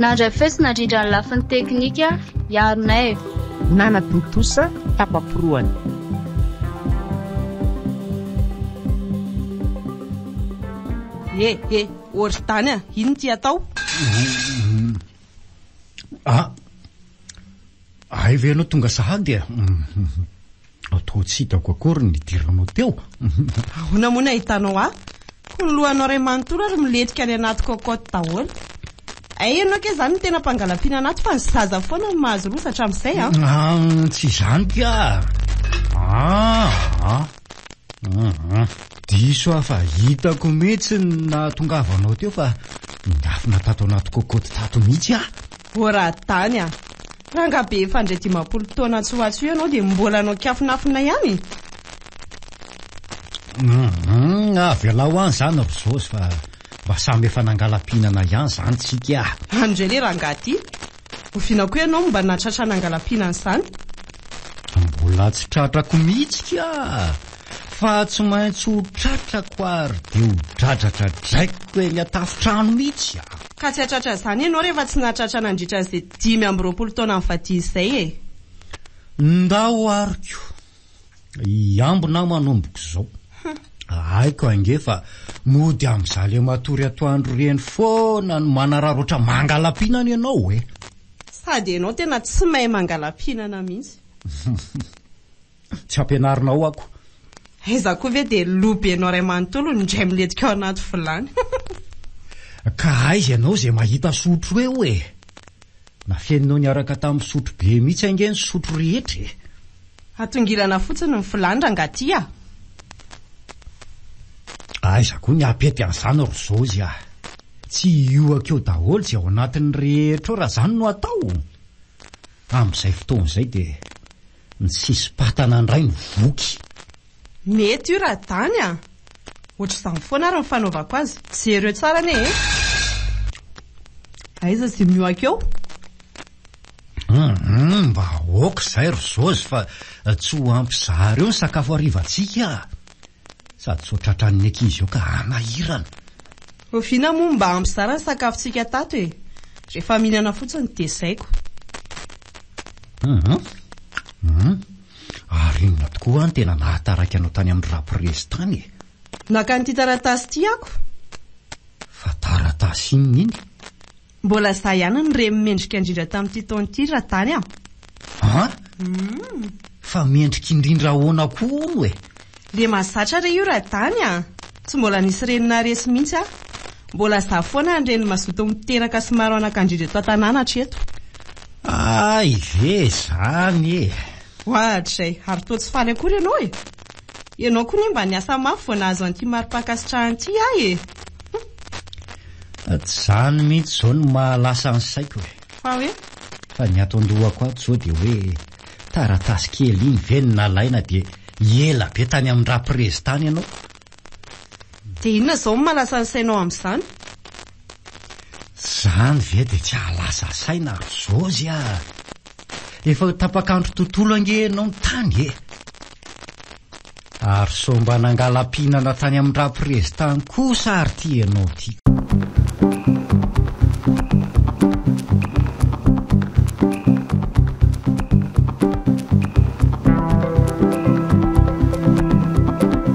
Nandray fetsy nandrindra ny lafiny teknika i Arnaivo. Nanatontosa tapa-porohana. He he, ory tany a! Inona ity atao? Ah! Hay ve ianao tonga sahady a? Aho toa tsy hitako akory ny hidiranao teo. Ahoana moa ny ahitanao ahy? Koa ny lohanao iray manontolo ary milentika any anaty cocotte daholo. Hay ianao kay izany no tena mpangalampiana anaty fa ny zaza foana no mahazo rosa hatramin'izay an! Ah, tsy izany ka! Ah, ah, ah. Diso aho fa hitako mihitsy ny nahatongavanao teo fa nindafina tato anaty cocotte tato mihitsy aho. Ô Radany a! Ranga be efa handray dimampolo taona tsy ho atsy io ianao dia mbola hanao kiafinafina ihany? Hum, avelao any izany ry Zosy fa mba samy efa nangala-pihinana ihany izany tsika a! Any indray ilay rangahy ity! Oviana koa ianao no mba nahatratra nangala-pihinana izany? Mbola tsy tratrako mihitsy ka! Fa tsy maintsy ho tratrako ary dia ho dradratra draikiko eny an-tafontrano mihitsy aho. Ka tsy hahatratra izany ianao rehefa tsy nahatratra nandritra izay dimy amby roapolo taonan'i Fatia izay e! Ndao ary koa hiambina aho manomboka izao. Haiko ange fa mody amin'izale matory atoandro ireny foana no manararaotra mangala-pihinana ianao e! Sady ianao tena tsy mahay mangala-pihinana mihitsy. Tsy ampianarina ao ako. Hay za koa ve dia lo be anao ray manontolo no indray milentika ao anaty vilany. Ka aiza ianao izay mahita sotro eo e! Nafeninao niaraka tamin'ny sotro be mihitsy ange ny sotro rehetra e! Atongilana fotsiny ny vilany rangah ty a! Aiza koa ny apety an'izany ry Zozy a! Tsy hiohaka eo daholo izay ao anatiny rehetra eo raha izany no atao! Amin'izay fotoana izay dia Ny sisim-patana indray no voky. Mety io raha dany a! Ohatr'izany foana ary ny fanaovako azy. Jereo tsara anie e! Aiza izay miohaka eo? Hum, mba aoka izay ry Josy fa tsy ho ampy zary eo ny sakafo harivantsika a! Sady sao tratran'ny ankizy eo ka hanahirana. Oviana moa no mba hampizara ny sakafontsika tato e? Rehefa mihinana fotsiny dia tezaiko. Hum hum. Ary inona tokoa no tena nahataraiky anao tany amin'ny raprezy tany e? Naka an'ity taratasy ity aho ko. Fa taratasy inona iny? Mbola za ihany no re mendrika indrindra tamin'ity taona ity ra tany a! An? Fa mendrika indrindra ahoana koa hono e? Le mazatra re io ra tany a! Tsy mbola nisy reny naharesy mihitsy aho. Mbola za foana ny reny mazoto miteraka sy maro anakandrindra eto an-tanàna hatreto. Hay ve izany e! Hoahatrizay ary toa tsy faly akory ianao e! Ianao koa anie mba niasa mafy vao nahazo an'ity mari-pankasitrahana ity aho e! Zany mihitsy izao no maha lasa ny saiko e! Fa hoe? Fa ny ato an-dohako ato izao dia hoe taratasy kely iny ve no nalaina dia ela be tany amin-dRaprez tany ianao? Dia inona izao no maha lasa ny sainao amin'izany? Zany ve dia tsy ahalasa saina ry Jôzy a! Efa ho tapak'andro tontolo ange ianao no tany e! Ary sao mba nangala-pihinana tany amin-dRaprezy tany kosa ary ity ianao ity!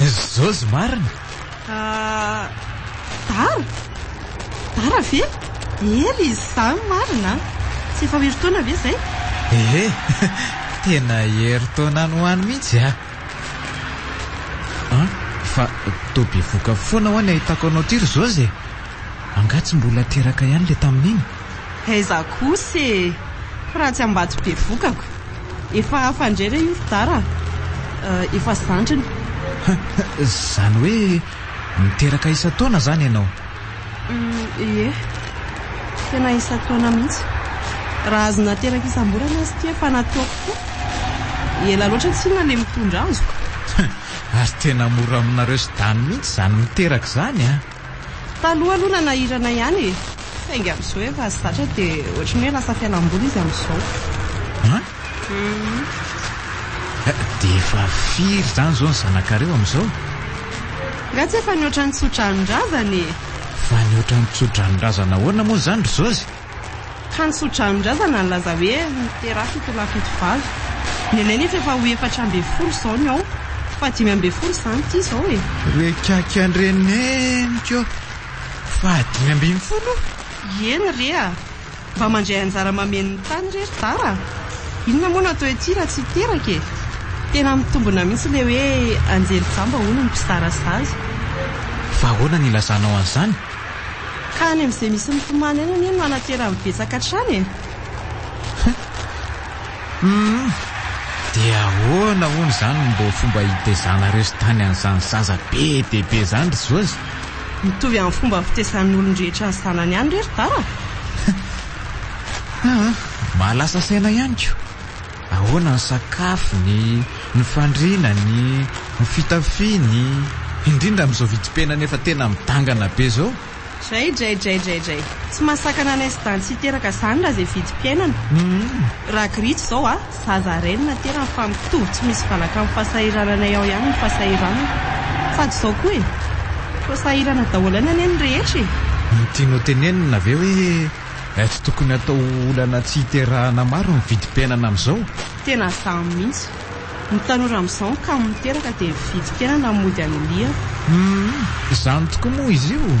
Izy Jozy marina? Ah, Dara? Dara ve? Hery izy izany marina an! Tsy efa ho herintaona ve izay? Ehe, tena herintaona any ho any mihitsy ah! An, fa toa bevoka foana ho'a ny ahitako anao ity ry Jozy e! Angaha tsy mbola teraka ihany ilay tamin'iny? Aiza kosa e! Fa raha tsy ambato be vokako. Efa fandre re io fdara a! Efa zandriny. Zany hoe miteraka isan-taona zany ianao? Ie, tena isan-taona mihitsy. Raha azo nateraka isam-bolana aza ity efa nataoko koa. Ela loatra tsinona ilay mitondra azoko. Ary tena mora aminareo sdany mihitsy zany miteraka zany a! Taloha aloha nanahirana ihany e! Saingy amin'izao efa zatra dia ohatran'ny hoe lasa fialamboly izy amin'izao. An? Dia efa firy izany izao ny zanakareo amin'izao? Nga tsy efa nihoatra ny tso-dranon-drazana e! Fa nihoatra ny tso-dranon-drazana ahoana moa izany ry Josy? Tany Soadrano-drazana nilaza hoe niteraka ito lahy fito vavy. Ny anay nefa efa ho efatra ambin'ny folo izao ny ao. Fahadimy ambin'ny folo izany ity izao e! Rekiaky an-dreneniko aho. Fahadimy ambin'ny folo? Eny re a! Mba mandray anjara mameno ny tany re ry Dara a! Inona moa no atao ety raha tsy hiteraka e! Tena mitombina mihitsy ilay hoe anjely jamba hono ny mpizara sazy. Fa ahoana no ilazanao an'izany? Ka any amin'izay misy ny tomany any anie no hanaterany betsaka hatrany e! Humm! Dia ahoana hono izany no mbo fomba hitezanareo sy tany an'izany zaza be dia be izany ry Jôzy? Mitovy amin'ny fomba fitezan'ny olon-drehetra ny zanany ihany re ry Dada! Haa! Mahalasa saina ihany ko! Ahoana ny sakafony, ny fandrinany, ny fitafiany, indrindra amin'izao vidim-piainana efa tena midangana be izao? Dray dray dray dray dray. Tsy mahasakana anay sy Dancy teraka izany raha izay vidim-piainana. Raha Gritch izao a, zaza rainy naterany fa mitovy tsy misy valaka amin'ny fahasahirananay ao ihany ny fahasahiranany. Sady izao koa e. Toa sahirana daholo ihany anie ny rehetra e. Tianao tenenina ve hoe Tsy tokony atao ho olana tsy hiterahana maro ny vidim-piainana amin'izao. Tena zany mihitsy. Ny tanora amin'izao ny kamo miteraka dia ny vidim-piainana mody anilihana. Humm, izany tokoa moa izy io.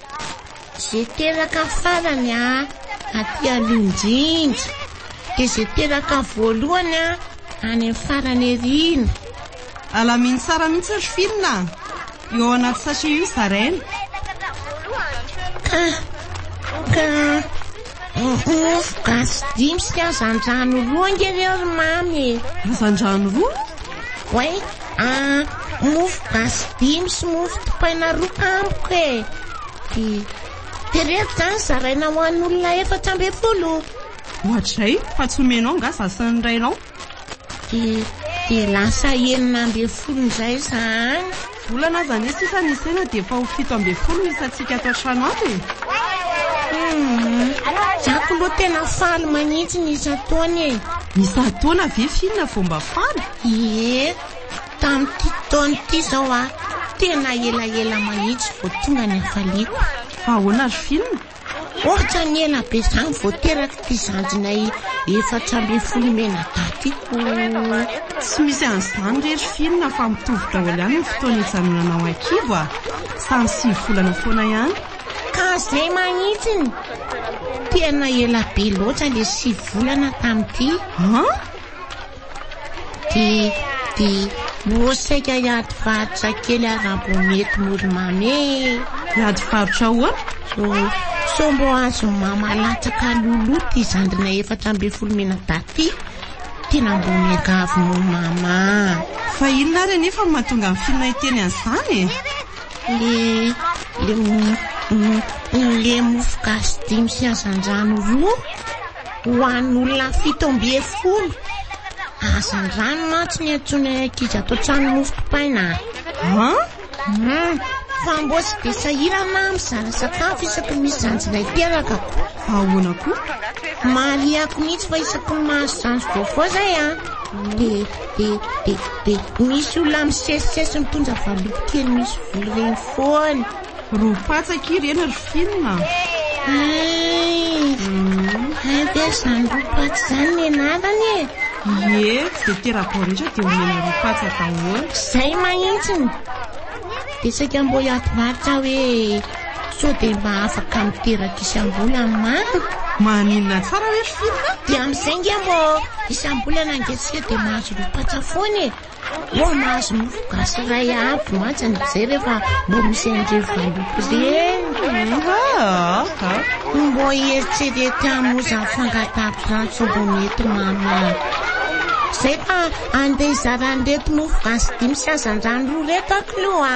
Zay teraka farany a aty aloha indrindra de zay teraka voalohany a any am farany arina. Alamino tsara mihitsy ry Finn a! Io ao anaty sachet io zaraina. Ka, ka. Ohoh gasy dimy sy hazandrano roa ange reo ry mamy e! Hazandrano roa? Oay ah mofo gasy dimy sy mofo dipaina roa tampoka e! Ty tereto zany zaraina ho an'olona efatra ambin'ny folo. Ohatrizay, fa tsy omenao nga zasin'ny rainao? Dia lasa enina ambin'ny folo indray za any. Volana aza anie sisa ny isaina dia efa ho fito ambin'ny folo ny isantsika ato an-trano ato e! Humm, za k'loha tena faly manitsy ny isan-taona e! Isan-taona ve finina vao mba faly? Ie, tamin'ity taona ity izao aho tena elaela manitsy vao tonga ny hafaliako. Fa ahoana ry finina? Ohatrany ela be zany vao teraka ity zandrinay efatra ambin'ny folo mena daty ity. Tsy misy an'izany re ry Finn fa mitovy daholo ihany ny fotoana ijanonana ao an-kibo a! Samy sivy volana foana ihany. Ka zay manitsiny! Tena ela be loatra le sivy volana tamin'ity. An! Di, di, moa saika hiady varotra kely ary mbo mety mora mamy e. Hiady varotra ahoana? Oh, sao mbo azon'i mama latsaka Loulou ty zandriny efatra ambin'ny folo minadahy ty. Tena mbo miangavy moa mama. Fa inona ary anefa no mahatonga an'i Fina hiteny an'izany e? Le, le, le mofogasy dimy sy hazandrano roa. Ho an'olona fito ambin'ny folo hazandrano mantsy ny antsoin'ny ankizy ato an-trano mofo dipaina. Ha? Hmm. Fa mboa sy be sahirana aho mizara sakafo isaky ny misy zanjy ilay teraka ko. Ahoana koa? Mariako mihitsy fa isaky ny mahazo zanjy vaovao zay a. Ah. Be, be, be, be. Misy olona misesisesy mitonja valopy kely misy vola ireny foana. Ro patsak ireny ry film a. Hay be izany ro patsak izany ny anarany e. Ie, dia tera-bao rehetra dia omena ro patsak daholo. Zay mahitsiny. Betsaka mbo hiady varotra hoe sao dia mba afaka miteraka isam-bola ny maro. Maninona tsara hoe ry film a. Dia amin'izay nge mbo isam-bolana nge tsika dia mahazo ro patsak foana e. Eo mahazo mofo gasy iray avy mantsy ny mijery efa mbo misy an'ireo valopy ireny. Mbo hieritserety hamoza fangataham-piantso mbo mety mahamay. Zay fa andeha hizara an'ireto mofo gasy dimy sy hazandrano roa ireto aho k'lou a!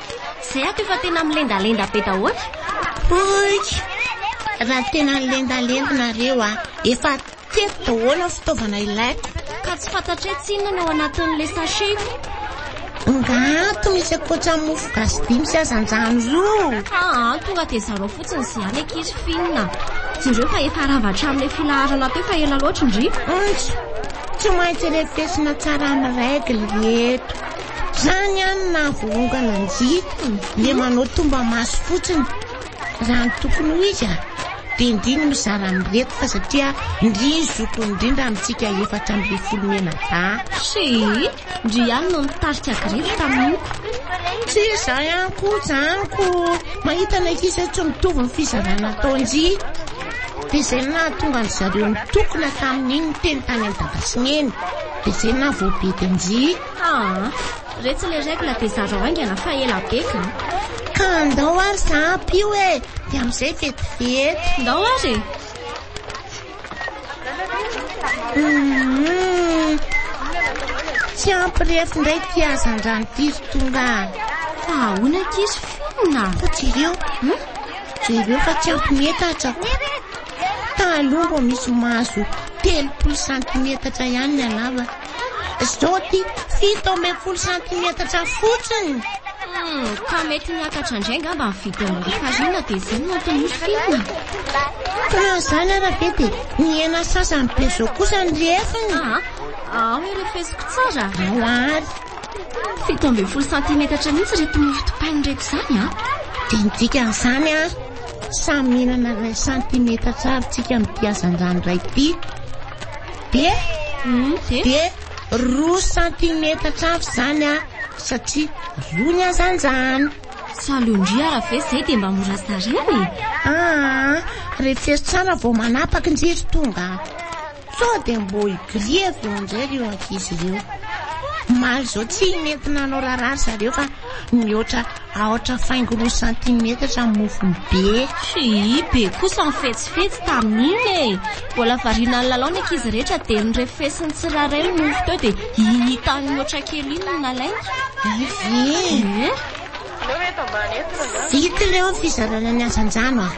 Zay ato efa tena milendalenda be dahoatra. Poik! Raha tena nilendalenda nareo a, efa teto daholo ny fitaovana ilaiko. Ka tsy fantatray tsinona ny ao anatin'ilay sachet. Nga ato misy akoatra mofo gasy dimy sy hazandrano roa. Aa, tonga dia zarao fotsiny izay any ankizy finina. Jereo fa efa rava hatramin'ilay filaharana teo fa ela loatra ndry. Ntso, tsy maintsy refesina tsara amin'ny règle ry eto. Zany an na volongana njy le manao tomba maso fotsiny raha ny tokony ho izy a de ndry ny mizara mireto fa satria ndry ny zokiny ndrindra amintsika efatra ambin'ny folo mena ba Chérie, ndry ihany no nitarika grevy taminiko. Tsy za ihany koa zany ko mahita ny ankizy tsy mitovy ny fizarana atao njy de zay no nahatonga an-dry zareo nitokona tamin'iny niteny tany amin'ny dada sy neny de zay no nahavoabedy an-dry. Haa, retsy le règle dia zarao haingana fa ela be ka. Ka andao ary za ampio e, dia amin'izay vetivety. Ndao ary e. Hum, tsy ampy refy indray ity hazandrano ity ry Tonga. Fa ahoana ankizy fonona? Fa jereo, hmm? jereo fa tsy ampy metatra. Taloha vao misy mahazo telopolo santimetatra ihany ny halavany. Zao ty, fito ambin'ny folo santimetatra fotsiny. Hmm, ka mety miakatra indray angamba ny vidin'ny lafarina dia izay no antony misy filina. Ka izany ara be dia ny hena sasany be izao kosa ny lefiny. Ah, ah, hoe refesiko tsara. Ao ary. Fito ambin'ny folo santimetatra mihitsy reto mofo dipaina reto izany an. Ah. Dia ny dikan'izany an, ah, samy mihinana iray santimetatra avy tsika mitia hazandrano iray ity. Dia dia roa santimetatra avy izany aho satria roa ny hazandrano. Salon-dry ara ve izay dia mba mora zaraina e? Aa, refero tsara vao manapaka ndry ry Tonga a! Sao dia mbo hi-grille avy eo indray ireo ankizy ireo. Omaly izao tsy mety nanao raharaha ry zareo fa mihoatra Aotra faingo roa santimetatra ny mofony be. Hii, be kosa ny fetsifetsy tamin'iny e! Mbola variana nilalao ny ankizy rehetra dia norefesin'ny tsirairay ny mofo teo dia iny hitan'ny mihoatra kely iny no nalainy. Hay ve! Eh? Vita ilay ny fizarana ny hazandrano a!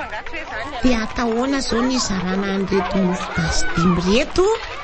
Dia atao ahoana izao ny hizarana an'ireto mofo gasy dimy ireto?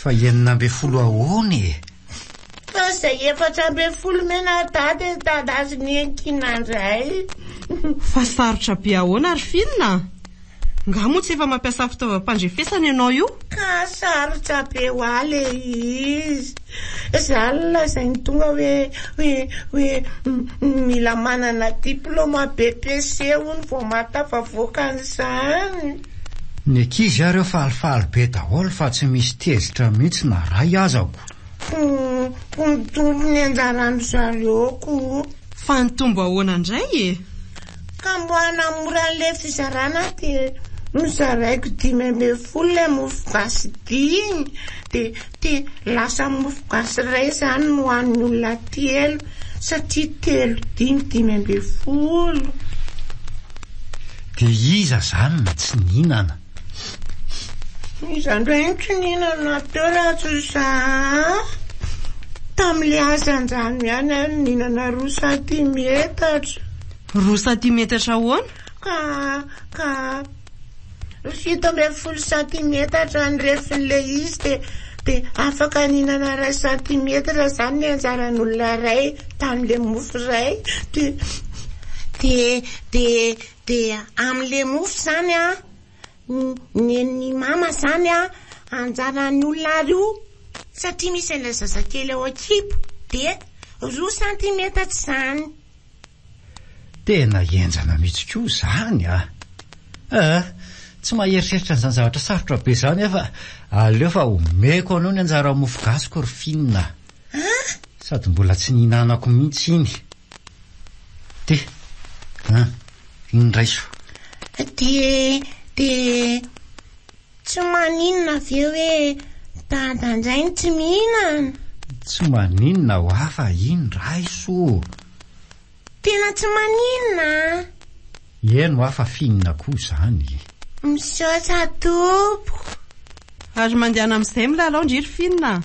Fa enina ambin'ny folo ahoana e? Fa izay efatra ambin'ny folo mena dada e dada sy ny enkina indray. Fa sarotra be ahoana ary Finn a! Nga moa tsy efa mampiasa fitaovam-pandrefesana ianao io? Ka sarotra be ho ahy le izy. Za aloha lazainy tonga hoe hoe hoe mila manana diploma BPC hono vao mahatafavoaka an'izany. Ny ankizy ary eo falifaly be daholo fa tsy misy tezitra mihitsy na ray aza ko. Ho mitombo ny anjaran-dry zareo ko. Fa nitombo ahoana indray e? Ka mba hanamora an'ilay fizarana dia nozaraiko dimy ambin'ny folo ilay mofogasy dimy dia. Te lasa mofo gasy ray zany no an'ny olona telo satria telo dimy dimy ambin'ny folo. De iza zany no tsy nihinana? Iza ndray no tsy nihinana teo raha tsy za an! Tamle asa anjano ihany aho no nihinana roa santimetatra. Roa santimetatra ahoana? Ka ka. Fito ambin'ny folo santimetatra ny refin'ilay izy dia dia afaka nihinana iray santimetatra izany ny anjaran'olona iray tamin'ilay mofo iray dia dia dia dia amin'ilay mofo izany a nen'ny mama izany a anjaran'ny olona roa satria misy an'ilay zazakely ao an-kibo dia roa santimetatra izany Tena henjana mihitsy koa izany a! Aa! Tsy maheritreritra an'izany zavatra sarotra be izany aho fa aleo fa omeko anao ny anjara mofo gasiko ry Finn a! An! Sady mbola tsy nihinanako mihitsy iny! Ty! An! Iny raiso! Ty e! Ty e! Tsy maninona ve hoe dada ndray no tsy mihinana? Tsy maninona ho ahy fa iny raiso ô! Tena tsy maninona an! Eny ho ahy fa finina koa izany e! Misaotra tompoko! Ary mandehana amin'izay milalao ndry ry finina a!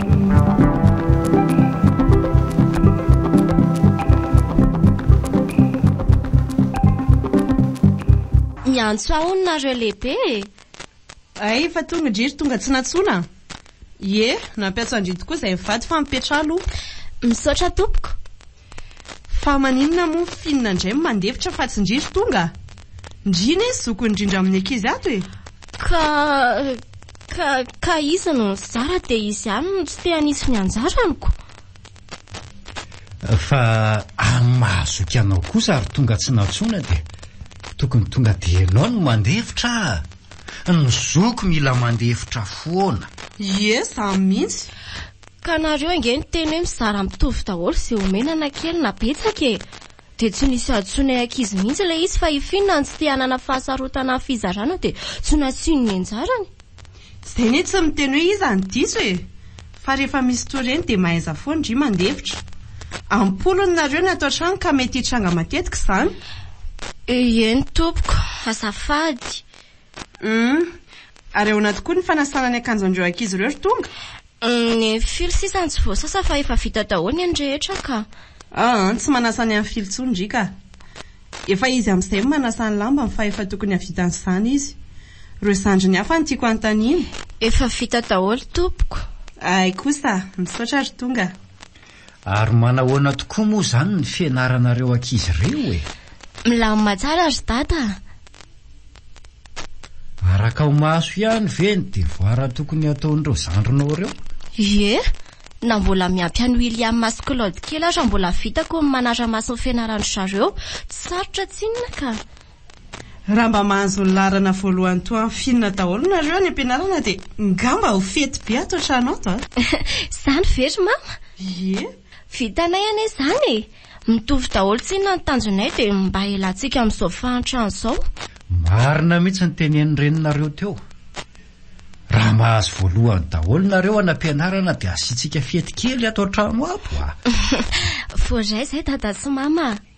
Miantso ahy hono nareo lehibe e! Hay efa tonga dry ry tonga tsy nantsoina? Ie, nampiantso an-dry tokoa izay mivady fa mipetraha aloha. Misaotra tompoko. Fa maninona moa finina ndray mandefitra fa tsy ndry ry tonga? Ndry ne zoky ndrindra amin'ny ankizy ato e! Ka ka ka iza no nizara dia izy ihany no tsy te hanisy ny anjaraniko? Fa amin'ny mahazoky anao kosa ry tonga tsy nantsoina dia tokony tonga dia ianao no mandefitra a! Ny zoky mila mandefitra foana! Ie, zany mihitsy! Ka nareo ange niteny hoe mizara mitovy daholo ze omena na kely na betsaka e! Dia tsy nisy hahantsoinay ankizy mihitsy ilay izy fa hifiny na ny tsy te hanana fahasarotana ny fizarana dia tsy nasiany ny anjarany. Zay ne tsy miteny hoe iza no diso e! Fa rehefa misy toa ireny dia mahaiza foana ndry mandefitra. Am-polony nareo ny ato an-trano ka mety hitranga matetika izany. Eny tompoko, azafady. Humm. Ary ahoana tokoa ny fanasana ny akanjon'ireo ankizy ireo ry Tonga? Humm e Filo sisa tsy voasasa fa efa vita daholo ny an'ny rehetra ka. Aa tsy manasa ny an'i Filo tsony ry ka. Efa izy amzay no manasa ny lambany fa efa tokony havita an'izany izy. Reo zandriny hafa no tiako anontaniana. Efa vita daholo tompoko. Ay kosa, misaotra ry tonga. Ary manahoana tokoa moa izany ny fianaranareo ankizy ireo e? Milamina tsara ry Dada a! Araka ho maso ihany ve ny devoara tokony hataon'ireo zandrinao ireo? Ie, na mbola miampy an'i William sy Claude kely aza mbola vitako ny manara-maso ny fianaran-dry zareo, tsy sarotra tsinona ka! Raha mba mahazo ny laharana voalohany toa an'i Fina daholo nareo any am-pianarana dia ngamba ho fety be ato an-trano ato a! Izany ve ry Mama? Ie! Vitanay anie izany e! Mitovy daholo tsinona ny tanjonay dia mba hialantsika amin'izao fahantrana izao. Marina mihitsy ny tenenin'ny reninareo teo. Raha mahazo voalohany daholo nareo any am-pianarana dia asiantsika fety kely ato an-trano ato a! Voaray izay Dada sy Mama a!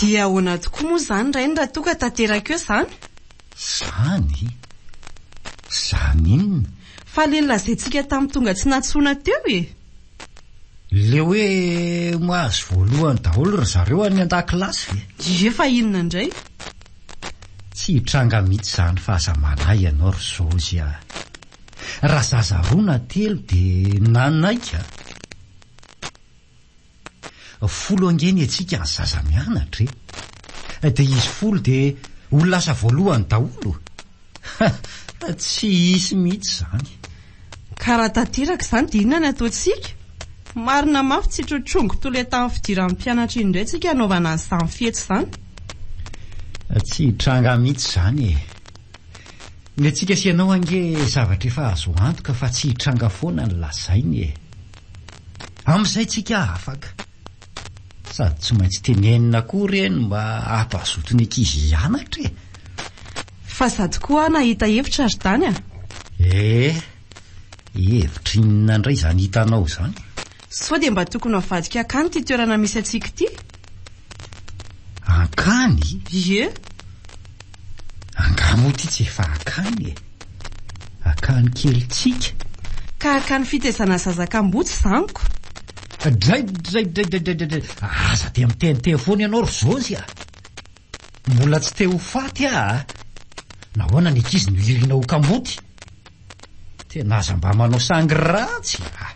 Dia ahoana tokoa moa izany rainy raha toa ka tanteraka eo izany? Izany? Izany inona? Fa ilay nolazaintsika tamin'ny tonga tsy nantsoina teo e! Le hoe mahazo voalohany daholo ry zareo any an-dakilasy ve? Ie fa inona indray? Tsy hitranga mihitsy izany fa aza manahy ianao ry Zozy a! Raha zaza roa na telo dia nanaiky a! Folo ange ny antsika ny zaza mianatra e! Dia izy folo dia ho lasa voalohany daholo? Ha! Tsy hisy mihitsy izany. Ka raha tanteraka izany dia inona ny ataontsika? Marina mafy tsy trotrongo toletan'ny fidiran'ny mpianatra iny indray tsika hanaovana an'izany fety izany. Tsy hitranga mihitsy izany e! Ny antsika sy ianao ange zavatra efa azo antoka fa tsy hitranga foana ny lazainy e! Amin'izay tsika afaka. Sady tsy maintsy tenenina koa re ny mba hampazoto ny ankizy hianatra e! Fa sady koa nahita hevitra ry Dany a! Eh! Hevitra inona indray izany hitanao izany? Sao dia mba tokony avadika hankany ity toerana misy antsika ity? Hankany? Ie! Angaha moa ity tsy efa akany e? Akany kelintsika? Ka akany fitezana zaza kamboty zaniko? Draidraidraidraidraidraidray! Aza dia miteniteny foana ianao ry Zozy a! Mbola tsy te ho faty aho a! Nahoana ny ankizy no irina ho kamboty? Tena aza mba manao sangy ratsy a!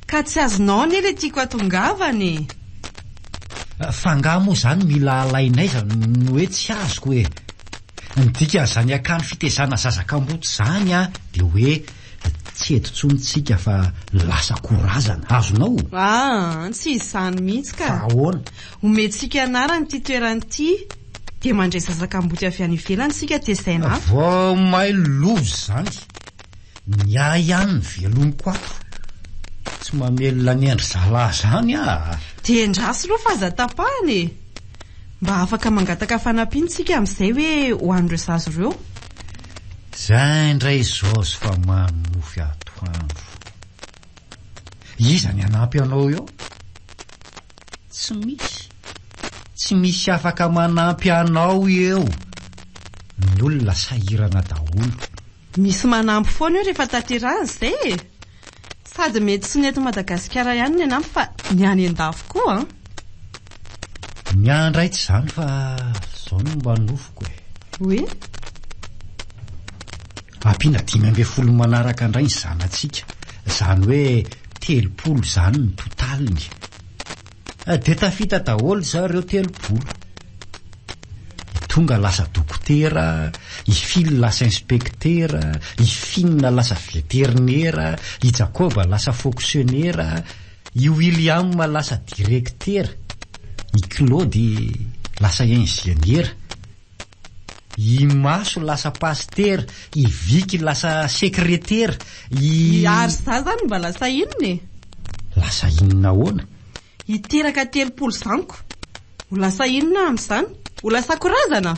Ka tsy azonao anie le tiako atongavana e! Fa angaha moa zany mila alain'aiza no hoe tsy azoko e! Ny dikan'izany akany fitezana zaza kamboty zany a de hoe tsy eto tsony tsika fa lasa korazana, azonao? Aa, tsy izany mihitsy ka! Fa ahoana? Omentsika anarana ity toerana ity dia mandray zaza kamboty avy any ivelany isika tezaina a. Vao may lova izany, ny ahy ihany ny velomiko ato. Tsy mamelona ny an-dry zalahy izany aho. Dia endraso aloha fa aza tapahana e! Mba afaka mangataka fanampiana isika amin'izay hoe ho an'ireo zaza ireo. Izay indray izao sy fa mamy mofy atoandro. Iza ny hanampy anao eo? Tsy misy. Tsy misy afaka manampy anao eo. Ny olona sahirana daholo. Misy manampy foana eo rehefa tanterahina izay e! Sady mety tsy ny eto Madagasikara ihany ny hanampy fa ny any an-dafy koa an! Miandry aitsy izany fa izao no mba nofiko e! Oui? Ampiana dimy ambin'ny folo manaraka indray ny zanatsika, izany hoe telopolo izany ny totaliny. Dia tafita daholo izao ireo telopolo. I Tonga lasa dokotera, i Phil lasa inspektera, i Finn lasa veterinera, i Jacob lasa foksionera, i William lasa direktera, i Claude lasa injeniera, I Maso lasa pasitera, i Vicky lasa sekretera, i. Ary za zany mba lasa inona e? Lasa inona ahoana? Hiteraka telopolo zaniko. Ho lasa inona aho amin'izany? Ho lasako razana?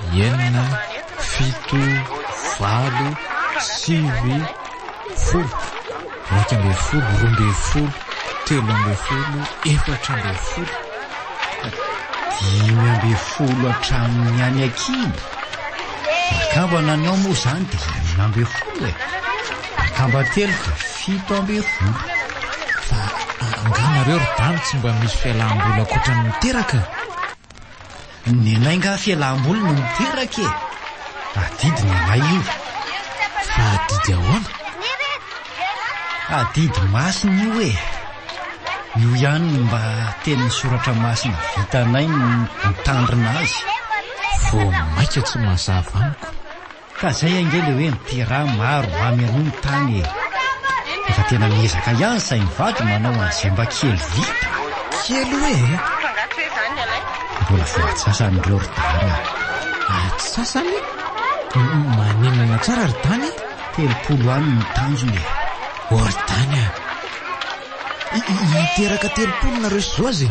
enina, fito, valo, sivy, folo, iraika ambin'ny folo, roa ambin'ny folo, telo ambin'ny folo, efatra ambin'ny folo, dimy ambin'ny folo hatramin'ny any an-kibo. Akamba nanao moa izany dia enina ambin'ny folo e. Akamba telo dia fito ambin'ny folo. Fa angaha nareo ry dama tsy mba misy fialam-boly ankoatra ny miteraka? Ny anay nga fialam-boly no miteraka e! Adidy ny anay io. Fa adidy ahoana? Adidy masina io e! Io ihany no mba tenin'ny soratra masina vitanay ny mitandrina azy. Vao maika tsy mazava amiko. Ka zay ange le hoe miterà maro mamy an'io ny tany e! Efa tena miezaka ihany zay mivady manao an'izay mba kely vita. Kely hoe e! Mbola vao antsasany ireo ry dany a! Antsasany? Maninona tsara ry dany e? Telopolo any ny tanjona e! Oh ry dany a! Hiteraka telopolo nareo sy Joz e!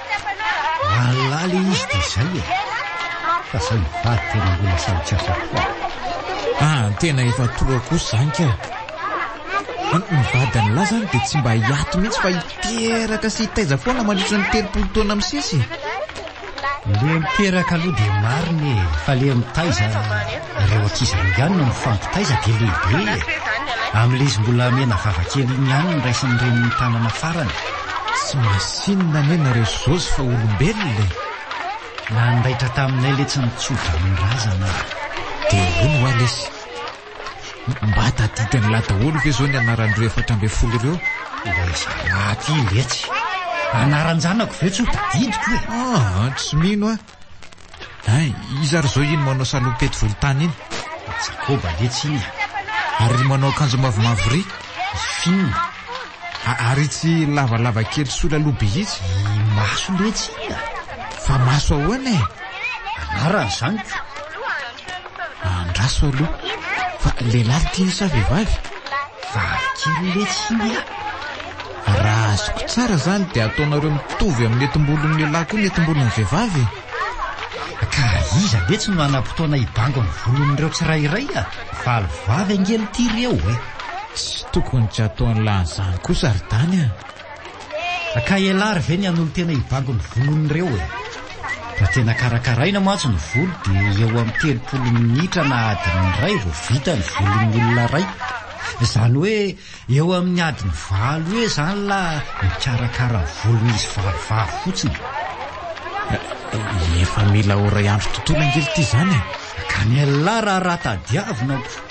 Lalina ilay izy dia izay e! Fa izay mivady tena mbola sahy tsy asa koa. Ah, tena efa toa kosa izany kay! Ny mivady an'lah izany dia tsy mba hiato mihitsy fa hiteraka sy hitaiza foana mandritra ny telopolo taona misesy e! Ilay miteraka aloha dia marina e! Fa ilay mitaiza, ireo ankizy ireo ihany no mifampitaiza dia lehibe e! Amin'ilay izy mbola menavava kely iny ihany no raisin'ny reniny tanana farany. Tsy misy. Tsinona anie nareo ry Josy fa olombelona e! Nandaitra taminay letsy ny tso-dranon-drazana a! Dia hono hoa lesy, mba tadidy an'la daholo ve zao ny anaran'ireo efatra ambin'ny folo ireo? Ilay zalahy aty letsy! Anaran-janako ve tsy ho tadidiko e? Aa, tsy mino aho! Hay, iza ary izao iny manao salopety volontany iny? I Jakoba anie tsy inona. Ary ry manao akanjo mavomavo ry? I Fina. A- ary itsy lavalava kely sola loha be itsy? I Maso letsy inona? Fa maso ahoana e? Anarany izany ko. Andraso aloha fa lehilahy no tiany sa vehivavy? Vavy kely letsy iny ah! Raha azoko tsara izany dia ataonareo mitovy amin'ny etimbolon'ny lehilahy koa ny etimbolon'ny vehivavy e! Ka iza letsy no hanam-potoana hibango ny volon'ireo tsirairay ah? Valo vavy ange no tiry eo e! Tsy tokony tsy ataon'lah an'izany kosa ry Dany ah! Ka ialary ve ny hanolotena hibango ny volon'ireo e? Raha tena karakaraina mantsy ny volo dia eo amin'ny telopolo minitra na adiny iray vao vita ny volon'ny olona iray. Izany hoe eo amin'ny adiny valo eo izany la mikarakara ny volon'izy valo vavy fotsiny. Efa mila ora iandry tontolo angely ity izany e! Ka ny ialahy raha raha tadiavina aho.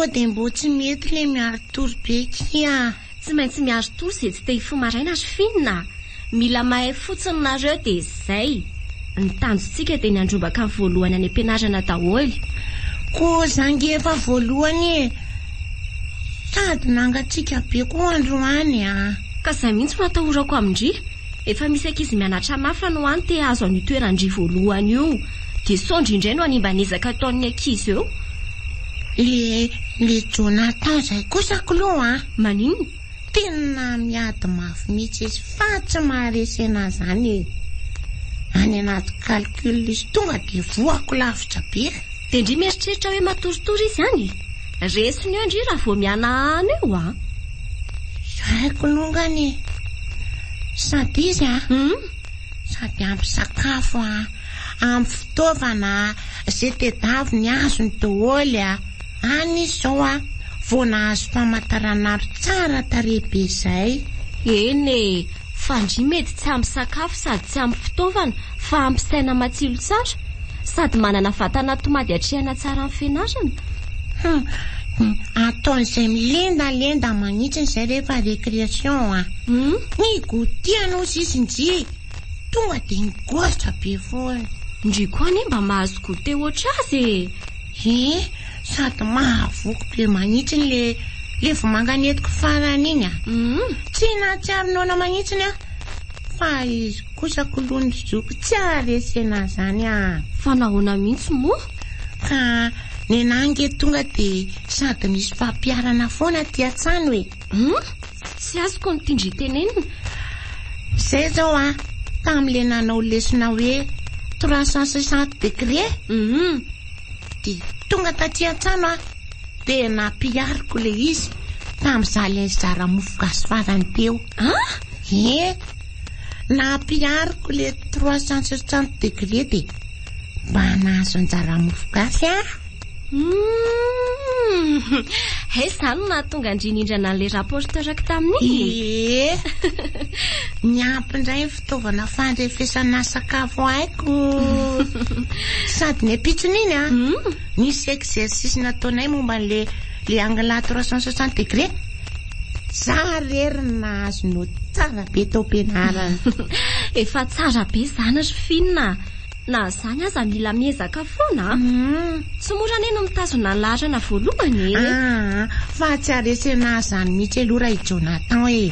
Sao dia mbo tsy mety ilay miaro tory be kia. Tsy maintsy miaro tory izay tsy te hifoha maraina ry Finn a! Mila mahay fotsiny nareo de zay. Ny tanjontsika de ny handrombaka ny voalohany any ampianarana daholo. Koa za nge efa voalohany e! Sady nangatsiaka be koa androany a! Ka zay mihitsy no atahorako amin-dry. Efa misy ankizy mianatra mafy any ho any te hahazo an'io toeran-dry voalohany io. De sao ndry indray no hanimba ny ezaka ataon'ny ankizy eo. Le le Jonathan zay kosa k'lou a! Maninona? Tena miady mafy mihitsy izy fa tsy maharesy enahy izany e. Any anaty calcul izy tonga dia voako lavitra be. Dia ndry mieritreritra hoe matoritory izy any e. Resiny eo ndry raha vao mihanahana eo a. Haiko longany e. Sady izy a. Hmm. Sady ampy sakafo a. Ampy fitaovana a. Izay tedaviny azony daholo a. Any izy zao a! Vao nahazo famataran'andro tsara tarehy be zay. Eny e! Fa ndry mety tsy ampy sakafo sady tsy ampy fitaovana fa ampy saina matsilo tsara sady manana vatana tomady atrehana tsara ny fianarana. Hum! Ataon'izay milendalenda manitsiny izay rehefa récréation a! Ny goûter any ozy izy ndry tonga dia nigoatra be foana. Ndry koa anie mba mahazo goûter ohatr'azy e! He, sady mahavoky be manitsiny le le vomanga nentiko farany iny a! Tsy nahatsiaro noana manitsiny aho fa izy kosa kolon'ny zoky tsy aharesena an'izany a! Fa nahoana mihitsy moa? Ka nenà ange tonga dia sady nisy fampiharana foana aty an-tsano e! Tsy azoko ny tindry tenenina. Zay zao a, tamle nanao lesona hoe trois cent soixante degre, hum, de tonga taty an-trano a, de nampihariko le izy tamza le nizara mofo gasy farany teo. Ah? Ie, nampihariko le trois cent soixante degre de mba nahazo anjara mofo gasy aho. Humm! He zany no nahatonga an-dry nindrana an'ilay rapporteur-ko tamin'iny e! Ie! Niampy indray ny fitaovana fandrefesana sakafo haiko. Sady ny ampitsony iny an, hmm? nisy exercice nataonay momba an'ilay le angle à 360 degré. Za rery ny nahazo note tsara be tao am-pianarana. Efa tsara be izany ry Finn a! Na izany aza mila miezaka foana a. Tsy mora anie no mitazona ny laharana voalohany e. Aa, fa tsy haresena azy izany mihitsy aloha ra i Jonathan e.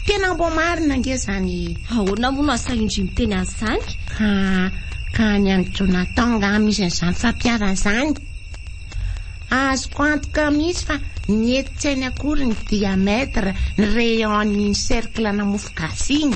Tena mbo marina ange izany e. Ahoana moa no asa indry miteny an'izany? Ka, ka any amin'i Jonathan angaha misy an'izany fampiharana izany? Azoko antoka mihitsy fa mety tsy hainy akory ny diamètre, ny rayon an'iny cercle-na mofogasy iny.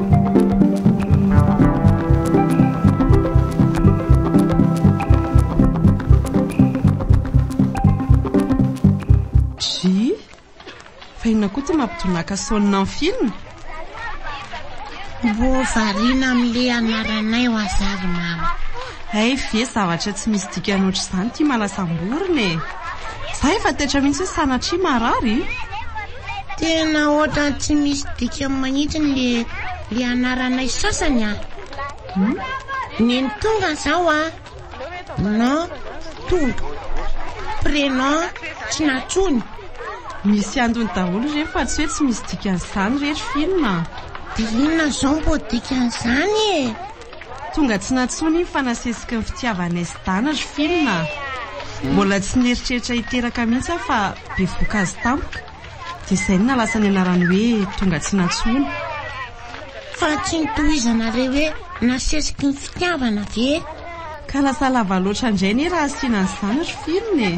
tonaka sonina ny film Mbo variana amin'le anaranay ho azavy mama Hey ve zavatra tsy misy dikany ohatr'izany ty malasamborina e Za efa taitra mihitsy hoe sanatria marary Tena ohatran'ny tsy misy dikany manitsiny le le anaranay sasany ah. Hmm? Neny tonga zao ah. Non, tonga. Prénom tsy natsony. Misy andony daholo re fa tsy hoe tsy misy dikany zany rehetra film. Dia inona zao mbo dikany zany e? Tonga tsy nantsoiny iny fa nasesiky ny fitiavanay sy Dana ry film a! Mbola tsy nieritreritra hiteraka mihitsy aho fa bevoka azy tampoka dia izay no nahalasa ny anarany hoe Tonga tsy nantsoiny. Fa tsy nitohizana ilay hoe nasesiky ny fitiavana ve? Ka lasa lava loatra indray anie raha asiana an'izany ry film e!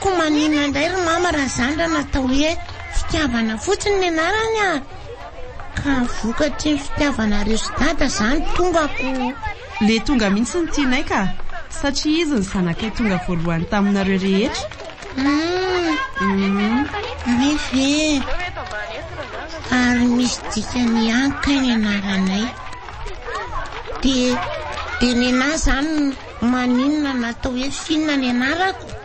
Koa maninona indray ry mama raha izany raha natao hoe fitiavana fotsiny ny anarany a! Ka vokatry ny fitiavanareo sy dada zany tonga ko. Le tonga mihitsy no tianay ka! Satria izy no zanakay tonga voalohany taminareo rehetra. Humm re ve ary misy dikany ihany kay ny anaranay. De de nenah zany maninona natao hoe Fina ny anarako?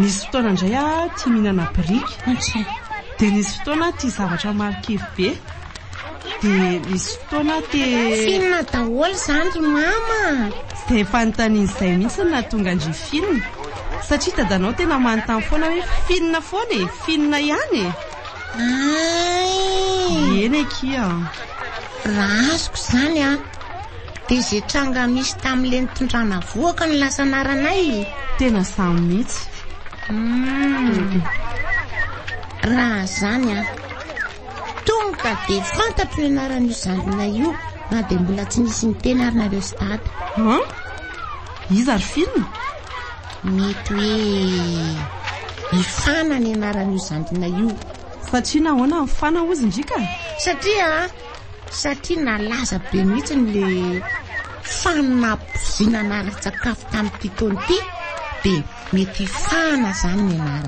Nisy fotoana indray aho tia mihinana biriky, dia nisy fotoana aho tia zavatra marikivy be, dia nisy fotoana aho te. Film daholo izany ry mama a! Dia fanontaniana izay mihitsy no nahatonga an-dry Finn, satria dadanao tena manontany foana hoe Finn foana e, Finn ihany e! Ay! Eny akia. Raha azoko izany a, dia izay tranga misy tamin'ilay nitondrana vohoka no lasa anaranay. Tena izaho mihitsy. Hmm. Raha izany a, tonga dia fantatro ny anaran'io zandrinay io na dia mbola tsy nisy niteny ary nareo sy dada. Hã? Iza ry Finn? Mety hoe i Fana ny anaran'io zandrina io. Fa tsia nahoana ny Fana hozy ndry ka? Satria satria nalaza be mihitsy ny le fanabozina anara-tsakafo tamin'ity taona ity dia mety i Fana izany ny anarany.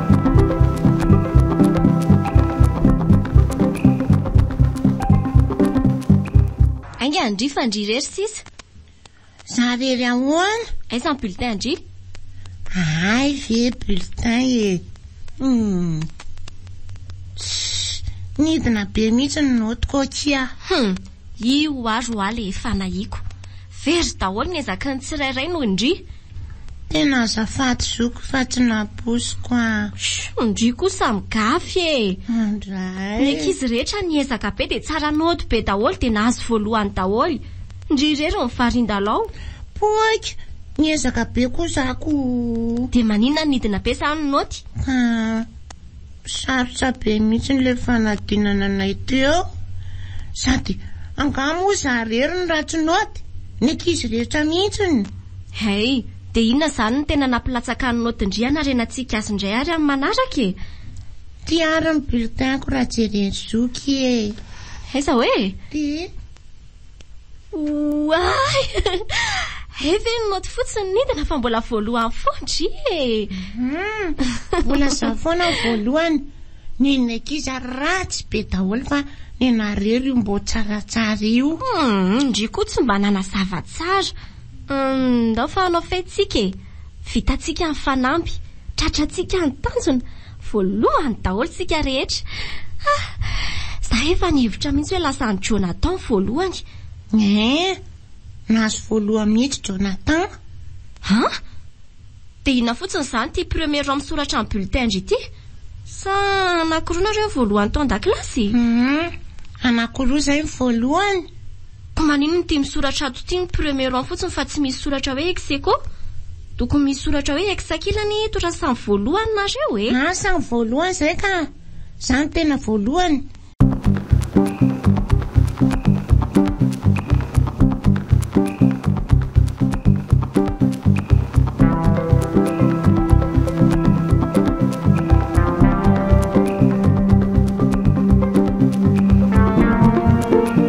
Ainga ndry fa ndry irery sisa. Za irery ahoana? Aiza ny bulletin ndry? Ahay ve bulletin e. Hmm. Nidina be mihitsy ny notiko akia. Hmm. Io ary hoaly efa nahiko. Very daholo ny ezaky ny tsirairay noho ndry. Tena azafady zoky fa tsy nabosiko an! Shoo, ndry koa samy gafy e! Andray. Ny ankizy rehetra niezaka be dia tsara nody be daholo dia nahazo voalohany daholo. Ndry irery ny varindalao. Poika! Niezaka be koa za ko. Dia maninona nidina be sa ny naoty? Ka Sarotra be mihitsy ilay fanadinana anay teo sady angaha moa za irery no ratsy naoty? Ny ankizy rehetra mihitsy. Hey, dia inona izany no tena nampilatsaka ny naotin-dry hanarena tsy hikasa indray ary amin'ny manaraka e? Ity ary ny bulletin-ko raha jeren'i zoky e! Aiza hoe? Ity. Oay! Hay ve ny note fotsiny nidina fa mbola voalohany foana dry e! Hmm, mbola za foana voalohany. Ny ny ankizy ary ratsy be daholo fa ny nareo ry mbo tsaratsara io. Hum, ndry koa tsy mba nanazava tsara. Hum, ndao fa hanao fety tsika e. Vitantsika ny fanamby, tratrantsika ny tanjona, voalohany daholo isika rehetra. Ah! Izaho efa nihevitra mihitsy hoe lasa an'i Jonathan voalohany. Eeh! Nahazo voalohany mihitsy Jonathan. An! Dia inona fotsiny izany ity premier rang misoratra amin'ny bulletin-dry ity? Sa anankiroa nareo voalohany tao an-dakilasy? Humm! Anankiroa izay ny voalohany. Ko manino no tia misoratra ato ity ny premier an fotsiny fa tsy misy soratra hoe ex aequo? Tokony misy soratra hoe ex ankilany eto raha samy voalohany nareo e! An samy voalohany zay ka! Za no tena voalohany!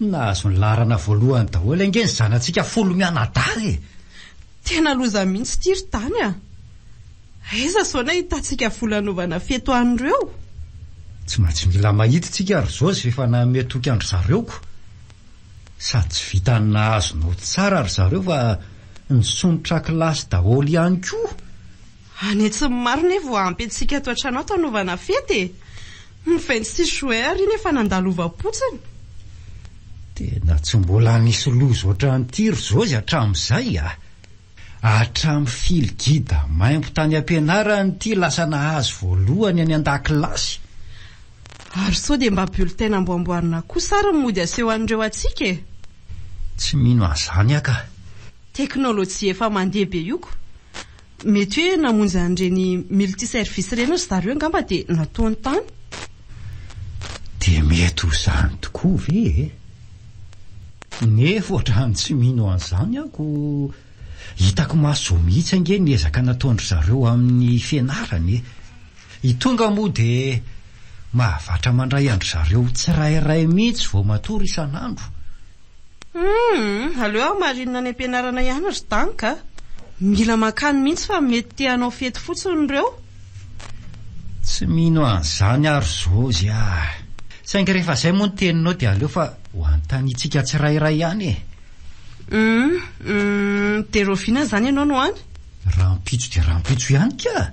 Nahazo ny laharana voalohany daholo ange ny zanatsika folo mianadahy e! Tena loza mihitsy ity ry Tany a! Aiza izao no ahitantsika vola hanaovana fety ho an'ireo? Tsy maintsy mila mahita isika ry Josy rehefa nanome toky an-dry zareo ko! Sady tsy vitan'ny nahazo nody tsara ry zareo fa nisondrotra kilasy daholo ihany koa! Any atsimo maro ne vao ampy antsika ato an-tranao tanaovana fety e! Ny vingt six juin ary iny efa nandalovam-potsiny. Tena tsy mbola nisy loza otran'ity ry Jozy hatramin'izay a! Hatramin'ny fil guide maimbo tany am-pianarana ity lasa nahazo voalohany any an-dakilasy. Ary sao dia mba bulletin namboamboarina kosa ary ny mody aseho an'ireo hatsiaka e! Tsy mino an'izany aho ka! Teknolojia efa mandeha be io ko! Mety hoe namonjy an'ireny multi-service ireny ry zareo angamba dia nataony tany. Dia mety ho izany tokoa ve e? Nefa ohatrany tsy mino an'izany aho ko hitako maso mihitsy ange ny ezaka nataon-dry zareo amin'ny fianarany e! I Tonga moa dia mahavatra mandray an-dry zareo tsirairay mihitsy vao matory isan'andro. Humm! Aleo aho marine any am-pianarana ihany ry Dank a! Mila mankany mihitsy fa mety te hanao fety fotsiny ireo. Tsy mino an'izany aho ry Josy a! Saingy rehefa izay moa ny teninao dia aleo fa ho anontanitsika tsirairay ihany e! Humm! Humm! Dia rahoviana izany ianao no any? Rahampitso dia rahampitso ihany ka!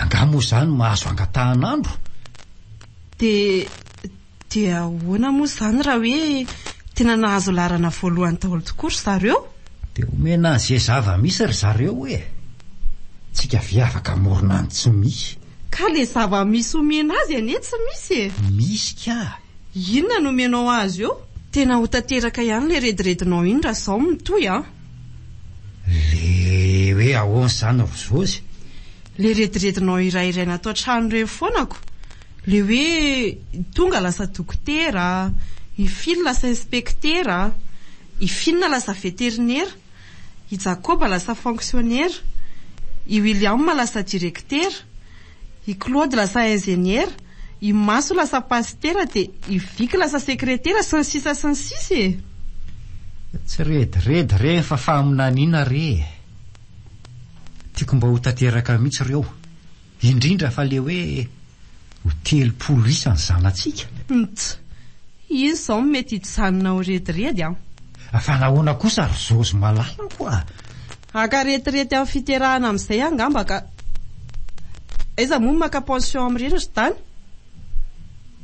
Angaha moa izany mahazo angatahan'andro? Dia. Dia ahoana moa izany raha hoe tena nahazo laharana voalohany daholo tokoa ry zareo? Dia omena an'izay zava-misy ry zareo e! Tsika ve afaka hamorona an'ny tsy misy? Ka ilay zava-misy omena azy anie tsy misy e! Misy kah! Inona no omenao azy eo? Tena ho tanteraka ihany ilay rediredinao iny raha izao mitohy an! Ilay hoe ahoana izany ry Zozy? Ilay rediredinao iray iray natao an-trano ireny foana ko! Ilay hoe tonga lasa dokotera, i Phil lasa inspektera, i Finn lasa veterinera, i Jacob lasa fonksionera, i William lasa direktera, i Claude lasa injeniera, i Maso lasa pasitera dia i Vic lasa sekretera sy ny sisa sy ny sisa e! Tsy rediredy re fa faminaniana re e! Tiako mba ho tanteraka mihitsy ireo. Indrindra fa le hoe ho telopolo isa ny zanatsika. Ntsy. Izy izao no mety hijanona ao rediredy an! Fa nahoana kosa ry zozy malalako a! Haka retirety amin'ny fiterahana amin'izay angamba ka! Aiza moa no maka pension amin'ireny ry dany?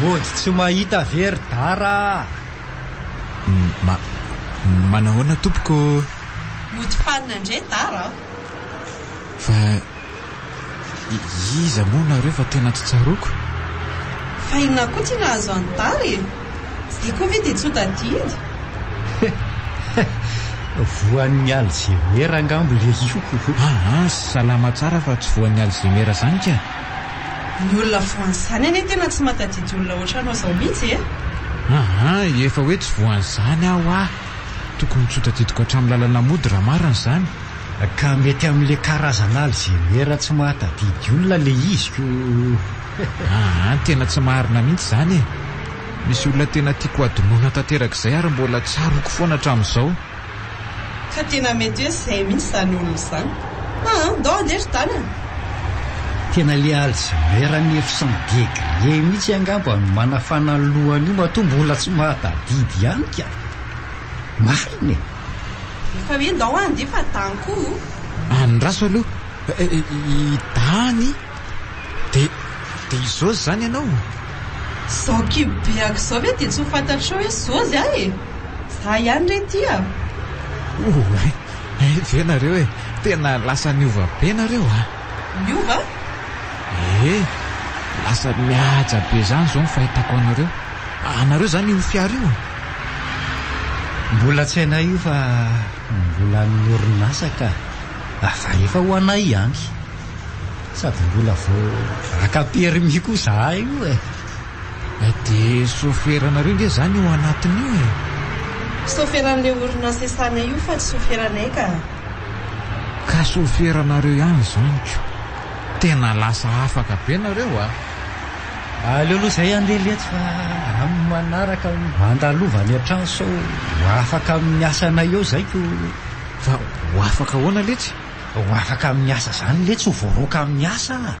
Mody tsy mahita ve ry Dara a! Ma, manahoana tompoko? Mody fanina ndray Dara a! Fa. Iza moa nareo fa tena tsy tsaroako? Fa inona koa ty nahazo an'i Tara e? Tsy dia koa ve dia tsy ho tadidy? Voan'ny alzemera angamba ilay io. Aa, salama tsara fa tsy voan'ny alzemera izany kah! Ny olona voan'izany anie tena tsy mahatadidy olona ohatranao izao mihitsy e! Aa, efa hoe tsy voan'izany aho aa! Tokony tsy ho tadidiko hatramin'ny lalanà mody raha marina izany! Ka mety amin'le karazana alzheimer tsy mahatadidy olona le izy ko! Aa tena tsy marina mihitsy zany e! Misy olona tena tiako hadinoina tanteraka izay ary mbola tsaroako foana hatramin'izao. Ka tena mety hoe zay mihitsy zany olona zany. Aa ndao andeha ry tanana! Tena le alzheimer neuf cent degre mihitsy angamba no manafana ny lohany io matoa mbola tsy mahatadidy ihany ka! Marina e! Efa hoe ndao aho handeha fa dany koa o. Andraso aloha i dany. Dia dia izôzy izany ianao? Izao kibo be aky izao ve dia tsy ho fantatrao hoe zôzy aho e? Za ihany re ity a. Oay, hay ve nareo e, tena lasa niova be nareo a. Niova? Ee, lasa mihaja be izany izao ny fahitako anareo. Anareo izany io fiara io? Mbola tsy hainay io fa mbola an'ny orinasa ka. Fa efa ho anay ihany. Sady mbola vao haka permis koa zahay io e. Eh dia soferanareo nge zany io anatiny io e. Soferan'ilay orinasa esanay io fa tsy soferanay ka. Ka soferanareo ihany zany ko. Tena lasa afaka be nareo a. Aleo aloha izay andeha letsy fa amin'ny manaraka andalova any an-trano sao ho afaka amin'ny asanay eo izay ko. Fa ho afaka ahoana letsy? Ho afaka amin'ny asa izany letsy ho voaroaka amin'ny asa a!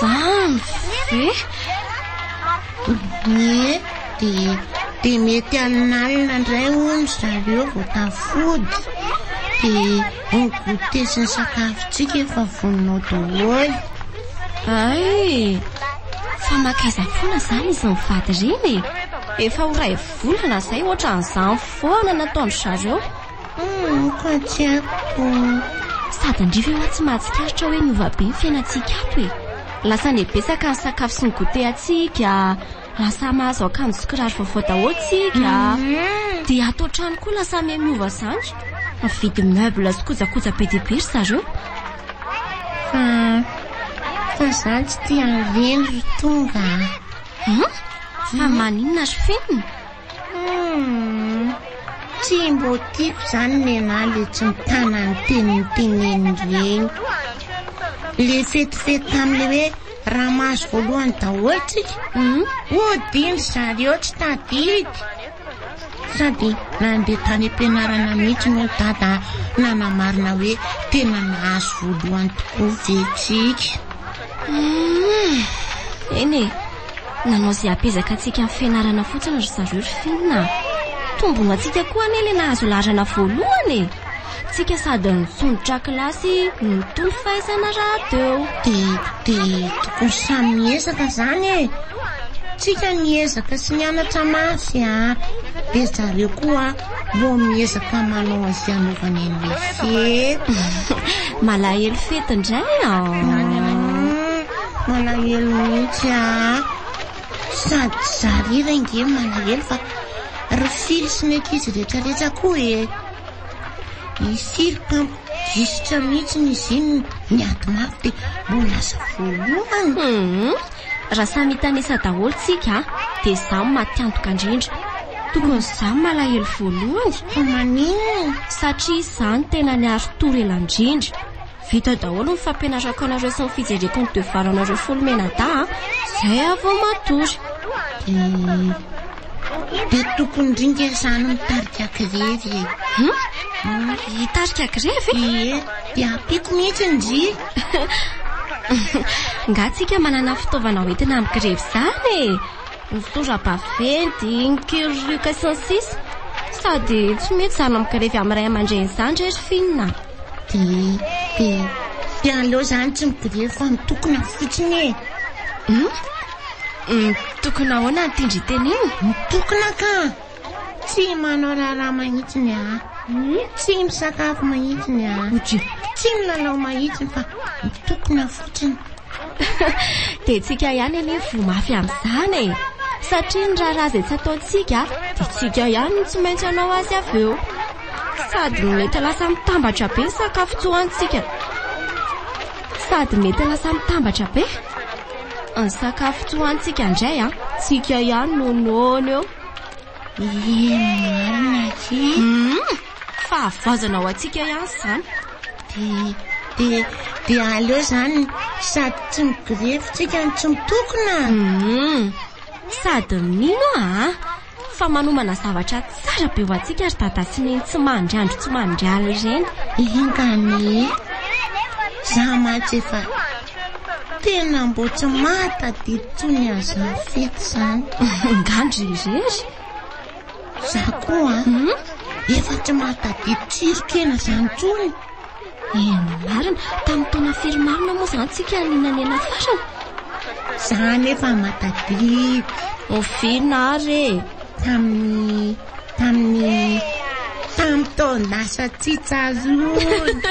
Zany ve? Ie, dia dia mety halinalina indray hono zareo vao tafody. Dia ny goûter sy ny sakafontsika efa voninao daholo. Ay, fa makaiza foana izany izy mivady ireny e. Efa ho iray volana izay ohatran'izany foana nataon-dry zareo. Hum, koa tsy ampy Sady andrivo io an tsy mahatsikaritra hoe niova be ny fiainantsika ato e. Lasa anie betsaka ny sakafo sy ny goûter antsika, lasa mahazo akanjo sy kiraro vaovao daholo tsika, dia ato an-trano koa lasa miha miova izany, mividy meuble sy kojakoja be dia be ry zareo. Fa fa izany tsy te-havelo ry Tonga a. Hum? Fa maninona ry Finn? Tsy mbô tiako zany nenahy le tsy mitana ny teniny teneniny regny. Le fetifety tamle hoe raha mahazo voalohany daholo tsika. Hum, ody ndry zareo tsy tadidy. Sady nandeha tany am-pianarana mihitsy moa ny dada nanamarina hoe tena nahazo voalohany tokoa ve tsika. Hum, eny e, Nanao izay hampiezaka antsika amin'ny fianarana fotsiny ry zareo ry Finn a. Tombony ho antsika koa anie ilay nahazo laharana voalohany e! Tsika sady nitsondrotra kilasy no nitombo fahaizana rahateo. Dia dia tokony samy miezaka izany e! Tsika niezaka sy nianatra mafy a! Dia zareo koa Mbô miezaka manao azy hanaovany an'ilay fety. Malahelo fety indray an. Malahelo mihitsy an. Sady za rira nge malahelo fa ry fily sy ny ankizy rehetrarehetra koa e. I Sily mpamp. Gisitra mihitsy ny zinona, ny ady mafy dia mbola lasa voalohany. Hum, raha samy hitanisa daholo tsika dia za no matiantoka indrindra. Tokony za no malahelo voalohany. Fa maninona? Satria za no tena niaro tour ela indrindra. Vita daholo ny fampianarako anareo sy ny fijereko ny devoir anareo folo mianadahy a, zay aho vao matory. Dia. Be tokony ringa izany mitarika grevy e. Hmm? Hmm? Hitarika grevy? Ie, dia ampiako mihitsy ny ry. Nga tsika manana fitaovana hoentina amin'ny grevy izany e. Ny sora-baventy, ny kirioka sy ny sisa. Sady tsy mety izany amin'ny grevy amin'ny ray aman-dreny izany re ry finina. Dia, dia, dia aleo izany tsy migrevy fa mitokona fotsiny e. Hmm? Mitokona ahoana ny tendren-teny iny? Mitokona ka! Tsy manao raharaha mahitsiny a. Tsy misakafo mahitsiny a. Tsy milalao mahitsiny fa mitokona fotsiny. Dia tsika ihany anie voa mafy amin'izany e. Satria ny raharaha izay tsy ataontsika dia tsika ihany no tsy maintsy hanao azy avy eo. Sady mety lasa mitambatra be ny sakafo tsy hohanintsika. Sady mety lasa mitambatra be. Ny sakafo tsy hohanintsika indray an. Tsika ihany no noana eo. Ie marina aky. Hum, fahavoazana ho antsika ihany izany. Dia dia dia aleo izany sady tsy migrevy tsika no tsy mitokona. Hum, sady mino a. Fa manomana zavatra tsara be ho antsika ry Dada sy Neny tsy mandry andro tsy mandry alina ireny. Enga anie e! Za mantsy efa tena mbo tsy mahatadidy tsony an'zany fety zany. Ngany ry irery? Za koa an! Efa tsy mahatadidy tsirokena zany tsony. Eny marina, tamin'ny taona firy marina moa izany tsika no nanena farany? Za nefa matadidy. Oviana ary e? Tamin'ny tamin'ny tamin'ny taon-dasa tsy tsaroana.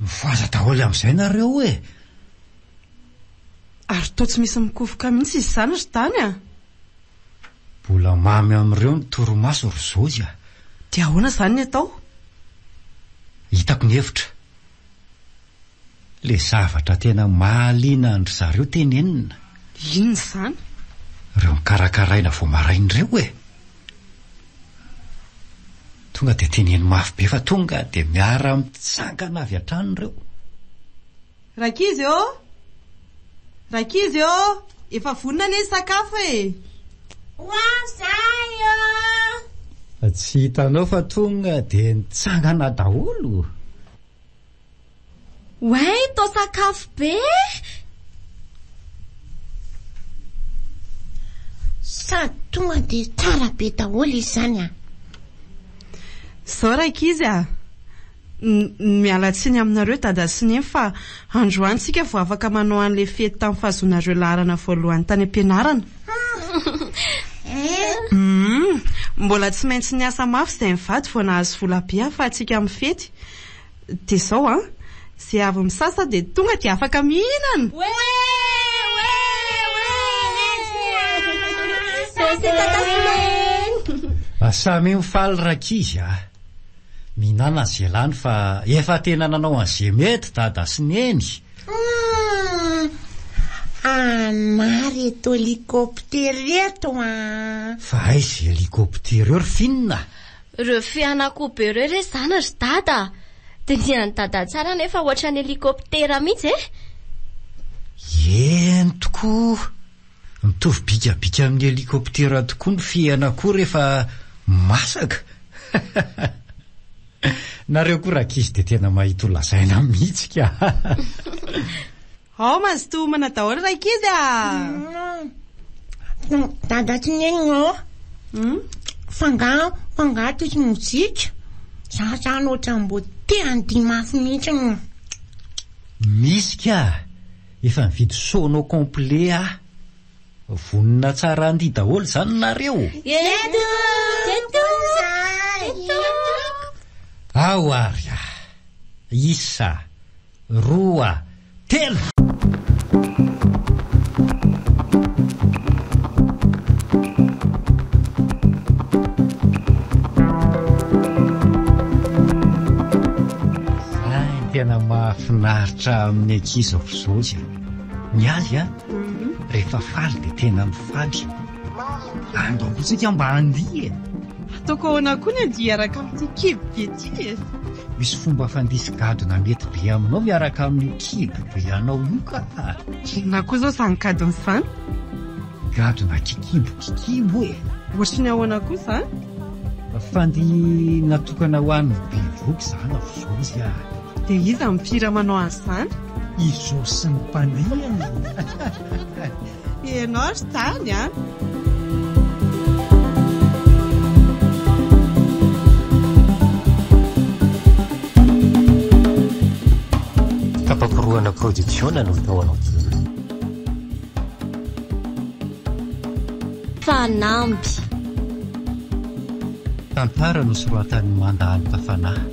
Mifohaza daholo amin'izay nareo e! Ary toa tsy misy mikofoka mihitsy izy izany ry Dany a! Mbola mamy amin'ireo ny torimaso ry Zohy a! Dia ahoana izany ny atao? Hitako ny hevitra. Ilay zavatra tena mahaliana an-dry zareo tenenina. Inona izany? Ireo nokarakaraina vao maraina ireo e! Tonga dia teneno mafy be fa tonga dia miara-mitsangana avy hatrany ireo. Rankizy ô! Rankizy ô! Efa vonona anie ny sakafo e! Ho avy izahay ô! Tsy hitanao fa tonga dia nitsangana daholo. Oay to sakafo be eh! Sady tonga dia tsara be daholo izany an! Zao rankizy a! Ny miala tsiny aminareo dada sy neny fa androany tsika vao afaka manao an'ilay fety tamin'ny fahazoanareo laharana voalohany tany am-pianarana. Humm! Mbola tsy maintsy niasa mafy izay mivady vao nahazo vola be ahafahantsika mifety. Dia izao an, izay avy misasa dia tonga dia afaka mihinana! Samy mifaly rankizy a! Mihinana izay lany fa efa tena nanao an'izay mety dada sy neny a! Anà ry eto elikoptera eto a! Fa aiza elikoptera eo ry finina? Reo fianakoo be reo re zany ry dada a! Dinihan'i dada tsara nefa ohatran'ny helikoptera mihitsy e! Eny tokoa! Mitovy bikabika amin'ny helikoptera tokoa ny fianakoo rehefa masaka! Nareo koa rankizy dia tena mahita ho lazaina mihitsy ka! Ao mazotoa homana daholo rankizy ah! Dada sy nenina ô, f'angaha f'angaha tia tsy mozika? Za zany ohatran'ny mbô te handihy mafy mihitsy ô. Misy ka! Efa nividy sono complet aho. Vonona tsara handihy daholo izany nareo? Eto! Eto! Eto! Ao ary ah! Isa! roa, telo! Izay no tena mahafinaritra amin'ny ankizy aoka izao izany. Ny azy an, rehefa faly dia tena mifaly. Ando koa tsika mba handihy e! Ataoko ahoana koa ny andihy hiaraka amin'ity kibo be ity e! Misy fomba fandisy gadona mety be aminao miaraka amin'io kibo be anao io kah! Inona koa izao izany gadona izany? Gadona kikibo kikibo e! Ohatry ny ahoana koa izany? Fandihy natokana ho an'ny bevohoka izany ao Zosy ah! Dia iza no mpihira manao an'izany? I Zosy sy ny mpandihy e! Ianao ry tany an! Tapakorohana Production no tao aloha. Fanamby. Tantara nosoratan'i Manda Alta Fanahy.